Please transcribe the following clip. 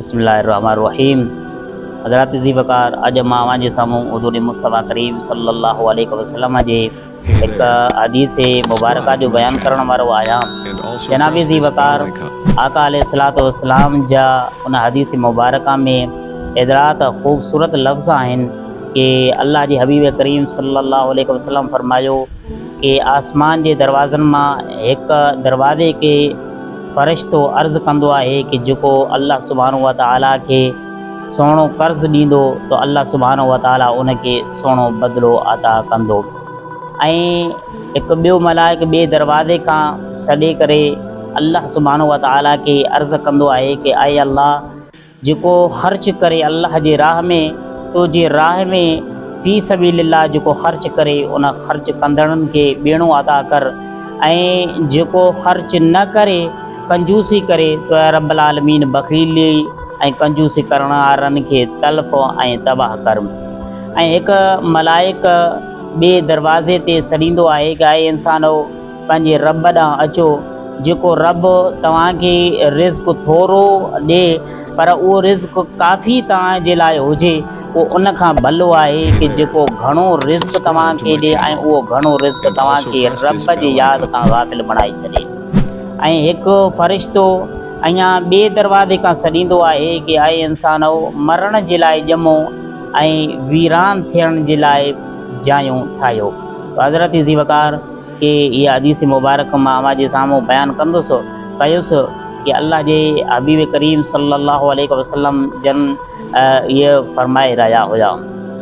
بسم الله الرحمٰن الرحيم حضرات ذي وقار اڄ مان اوهان جي سامهون حضور مصطفٰي ڪريم صلي الله عليه وسلم جي هڪ حديث مبارڪه جو بيان ڪرڻ وارو آهيان جناب ذي وقار آقا عليه الصلوات والسلام جا ان حديث مبارڪه ۾ ايترات خوبصورت لفظ آهن ڪي الله جي حبيب ڪريم صلي الله عليه وسلم فرمايو ڪي آسمان جي دروازن مان هڪ دروازي کي فرشتو عرض ڪندو آهي ڪه جيڪو الله سبحانه وتعالي کي سهڻو قرض ڏيندو ته الله سبحانه وتعالي ان کي سهڻو بدلو عطا ڪندو ۽ هڪ ٻيو ملائڪ ٻئي دروازي کان سڏي ڪري الله سبحانه وتعالي کي عرض ڪندو آهي ڪه اي الله جيڪو خرچ ڪري الله جي راهه ۾، تو جي راهه ۾، في سبيل الله، جيڪو خرچ ڪري ان خرچ ڪندڙن کي ٻيڻو ادا ڪر ۽ جيڪو خرچ نه ڪري ڪنجوسي ڪري تو اي رب العالمين بخيلي ۽ ڪنجوسي ڪرڻ وارن کي تلف ۽ تباهه ڪر ۽ هڪ ملائڪ ٻئي دروازي تي سڏيندو آهي ته اي انسانؤ! پنهنجي رب ڏانهن اچو، جيڪو رب توهان کي رزق ٿورو ڏئي پر اهو رزق ڪافي توهان جي لاء هجي، اهو ان کان ڀلو آهي ڪي جيڪو گهڻو رزق توهان کي ڏئي ۽ اهو گهڻو رزق توهان کي رب جي ياد کان غافل بڻائي ڇڏي. ۽ هڪ فرشتو اڃان ٻئي دروازي کان سڏيندو آهي ڪي اي انسانؤ! مرڻ جي لاء ڄمو ۽ ويران ٿيڻ جي لاء جايون ٺاهيو. حضرت ذي وقار، کي اها حديث مبارڪه مان اوهان جي سامهون بيان ڪندس، ڪيس، ته الله جي حبيب ڪريم صلي الله عليه وسلم جن اهي فرمائي رهيا هيا.